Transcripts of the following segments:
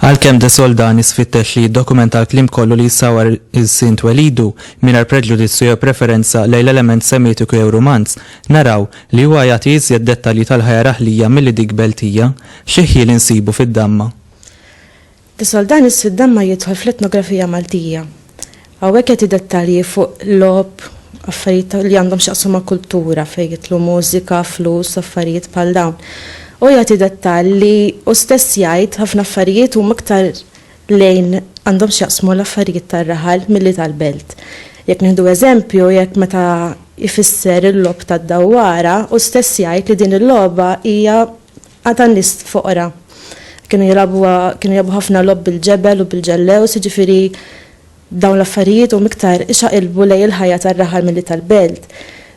Għalkemm de soldani sfittex li jiddokumenta l-klim kollu li jissawar il-sint welidu mingħajr preġudizzju jew preferenza lejn l-element semitiku jew rumanz, naraw li huwa jagħti iżjed dettalji tal-ħajja raħlija milli dik beltija, xi ħjiel insibu fid-damma. Is-Soldan is-Siddan ma jidħol fl-etnografija Maltija. Hawnhekk jagħti dettalji fuq logħob, affarijiet ta' li għandhom x'jaqsmu ma' kultura fejn jidħlu mużika, flus u affarijiet bħal dawn. Hu jagħti dettall li hu stess jgħid ħafna affarijiet huma iktar lejn għandhom x'jaqsmu l-affarijiet tar-raħal milli tal-belt. Jekk nieħdu eżempju jekk meta jfisser il-logħob tad-dawwara hu stess jgħid li din il-logħba hija Għad ta' nies foqra. Kienu jilgħabuha, kienu jilgħabu ħafna logħob bil-ġebel u bil-ġellews, jiġifieri dawn l-affarijiet huma iktar ixaqilbu lejn il-ħajja tar-raħal milli tal-belt.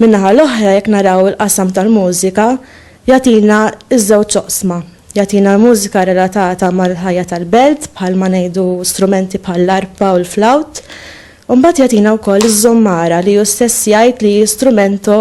Min-naħa l-oħra jekk naraw il-qasam tal-mużika jagħtina ż-żewġ oqsma. Jagħtina l-mużika relatata mal-ħajja tal-belt bħalma ngħidu strumenti bħall-arpa u l-flawt. U mbagħad jagħtina wkoll iż-żummara li hu stess jgħid li hi strumento